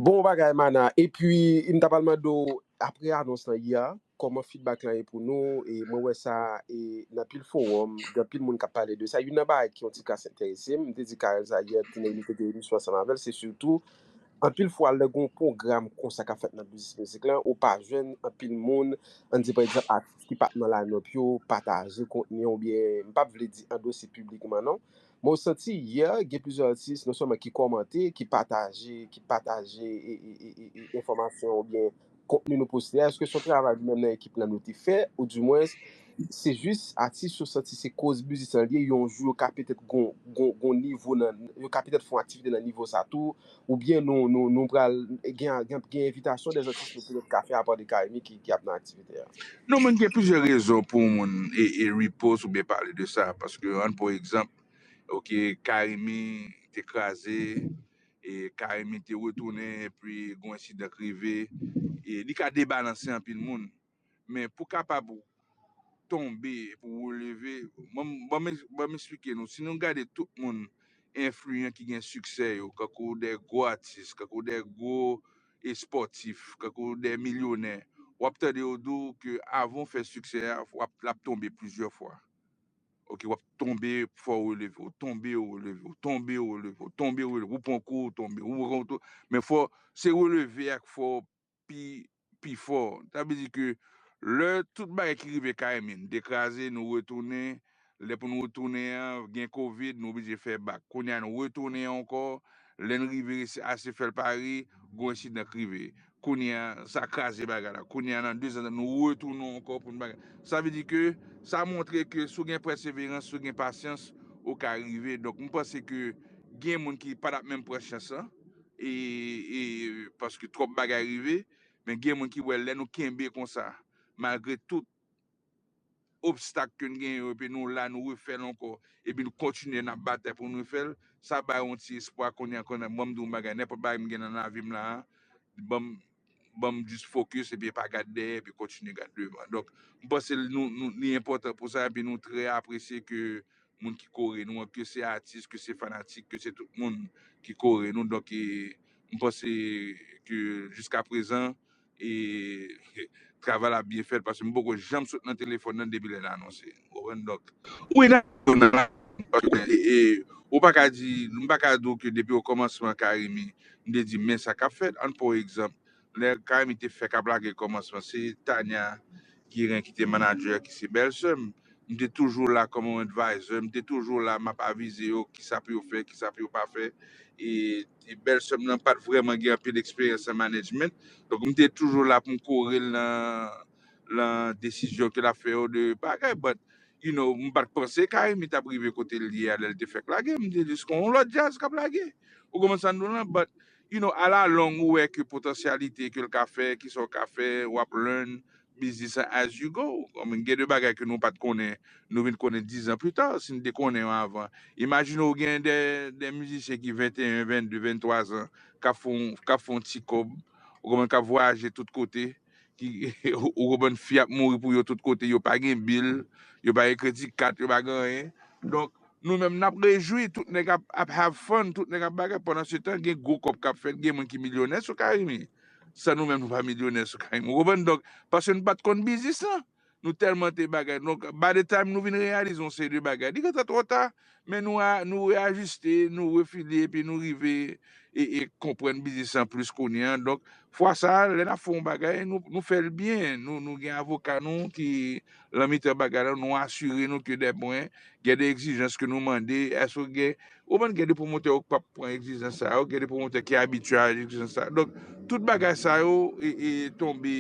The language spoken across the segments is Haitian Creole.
Bon bagay Mana epi m ta pral mande w aprè anons lan yè a kòman feedback lan ye pou nou e mwen wè sa e nan pil fowòm gen anpil moun kap pale de sa youn nan bagay ki yon ti kras enterese m m te di Carel sa yè ti Neylie te gen emisyon ansanm avè l se sitou anpil fwa lè gon pwogram konsa kap fèt nan biznis mizik lan ou pa jwenn anpil moun an di pa egzanp atis ki pat nan line up yo pataje kontni an oubyen m pap vle di andose piblikman non Mwen santi yè gen plizyè atis non sèlman ki kòmante, ki pataje, ki pataje e e e e e enfòmasyon oubyen kontni nou poste a, èske se yon travay nou menm nan ekip lan nou te fè ou di mwens se jis atis yo santi se koz biznis lan li ye yon jou yo ka petèt gon gon gon nivo nan yo ka petèt fè yon aktivite nan nivo sa tou ou byen nou pral gen envitasyon de atis nou pral ka fè apade Carimi ki ap nan aktivite a? Non men gen plizyè rezon pou yon moun repost ou byen pale de sa paske an pou egzanp ok Carimi te kraze e Carimi te retounen epi yon ensidan k rive li ka debalanse anpil moun. men pou kapab ou tonbe pou ou leve ban m esplike nou si nou gade tout moun enfliyan ki gen siksè yo kankou de gwo atis kankou de gwo espòtif kankou de milyonè w ap tande yo di w ke avan w fè siksè a w ap la tonbe plizyè fwa ok w ap tonbe fò w releve w tonbe w releve w tonbe w releve w tonbe w releve w pran kou w tonbe w pran kou w tonbe men fò se releve a k fè w pi pi fò. Sa vle di ke lè tout bagay ki rive kay min te kraze nou retounen, lè pou nou retounen an gen covid nou oblije fè bak. Kounye a nou retounen ankò, lè n rive resi ase fè l Pari, gwo ensidan k rive. Kounye a sa kraze bagay la. Kounye a nan dezan nou retounen ankò pou n bagay. Sa vle di ke sa montre ke si w gen pèseverans, si w gen pasyans ou ka rive. Donk m panse ke gen moun ki pa t ap menm pran chans lan. e e paske twòp bagay rive men gen moun ki wè lè nou kenbe konsa malgre tout obstak ke n genyen yo epi nou la nou refèl ankò epi nou kontinye nap batay pou nou refèl sa bay yon ti espwa kounye a kounye a banm di yon bagay nenpòt bagay m gen nan lavim la a banm banm just focus epi pa gad dèyè epi kontinye gad devan donk m panse nou nou li enpòtan pou sa epi nou trè apresye ke moun ki kore nou an ke se atis ke se fanatik ke se tout moun ki kore nou donk e m panse ke jiska prezan e travay la ap byen fèt paske m poko janm sot nan telefòn nan depi lè n anonse. Konprann donk. Ou ede yo nan la vi paske e ou pa ka di m pa ka di w ke depi okòmansman Carimi m te di men sa k ap fèt ann pran yon egzanp lè Carimi te fèk ap lage kòmansman se Tania Guérin ki te manager ki se bèlsè m m te toujou la kòm yon advisor m te toujou la m ap avize yo kisa pou yo fè kisa pou yo pa fè e e bèlsè m nan pa t vrèman gen anpil eksperyans nan management donk m te toujou la pou m kore l nan lan desizyon ke lap fè yo de bagay but you know m pat panse Carimi tap rive kotel ye a lèl te fèk lage m te jis kon on lòt djaz kap lage ou konprann sam di w lan but you know a la long ou wè ke potansyalite kel ka fè kisaw ka fè wap learn biznis an as you go konprann gen de bagay ke nou pat konnen nou vin konnen 10 ans plus tard si n te konnen yo avan imajine w gen de de mizisyen ki 21 22 23 ans kap fon kap fon ti kòb ou konprann kap vwayaje tout kote Ou konprann fi ap mouri pou yo tout kote yo pa gen bil yo pa gen kredi kat yo pa gen anyen donk nou menm nap rejwi tout nèg ap have fun tout nèg ap bagay pandan se tan gen gwo kòb kap fèt gen moun ki milyonè sou carimi san nou menm nou pa milyonè sou carimi ou konprann donk paske nou pat konn biznis lan Nou tèlman te bagay. Donk, by the time nou vin reyalize yon seri de bagay, li gentan twò ta. Men nou a, nou reyajiste, nou refile epi nou rive e, e konprann biznis lan plis kounye an. Donk, fwa sa a, lè n ap fè yon bagay, nou, nou fè l byen. Nou, nou gen avoka nou ki lan mitan bagay la, nou asire nou ke dèpwen gen de egzijans ke nou mande, èske gen, Ou konprann gen de pwomotè yo k pap pran egzijans sa yo, gen de pwomotè ki abitye a egzijans sa yo. Donk, tout bagay sa yo tonbe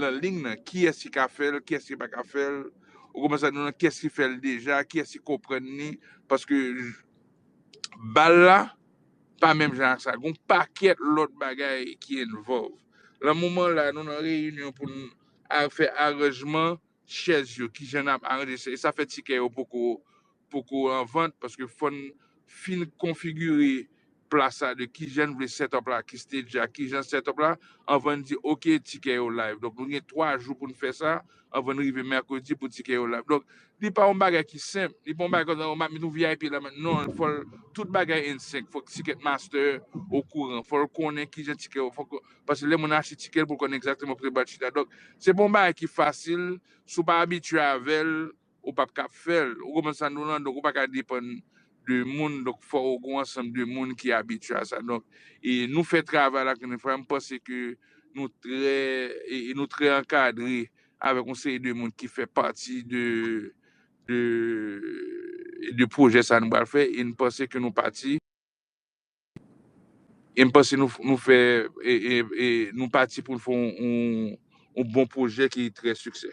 lan ling nan. Kiyès ki ka fè l, kiyès ki pa ka fè l. Ou konprann sa, nou nan kiyès ki fè l deja, kiyès ki konprann li. Paske bal la pa menm jan ak sa. Gon pakèt lòt bagay ki envòlv. Lan moman la, nou nan reyinyon pou n fè aranjman. chèz yo kijan nap aranje sa e sa fè tikè yo poko poko an vant paske fòn fin konfigire plas la de kijan n vle setup la ki stage la kijan setup la anvan n di ok tikè yo live donk nou gen 3 jou pou n fè sa anvan n rive mèkredi pou tikè yo live donk li pa yon bagay ki senp li pa yon bagay kòmsi map met yon vip la mèt non fò l tout bagay nsync fòk ticket master okouran fò l konnen kijan tikè yo fòk Paske lè moun achte ticket pou l konnen exactement kote bat chita. Donk se pa yon bagay ki fasil, si w pa abitye avè l, ou pap ka ap fè l. Ou konprann sa nou lan? Donk ou pa ka depann de moun, donk fò ou gen yon ansanm de moun ki abitye a sa. Donk e nou fè travay la konnen frè a, m panse ke nou trè e nou trè ankadre avèk yon seri de moun ki fè pati de de de pwojè sa nou pral fè e n panse ke nou pati. E m panse nou nou fè e e nou pati pou n fè yon bon pwojè ki trè siksè.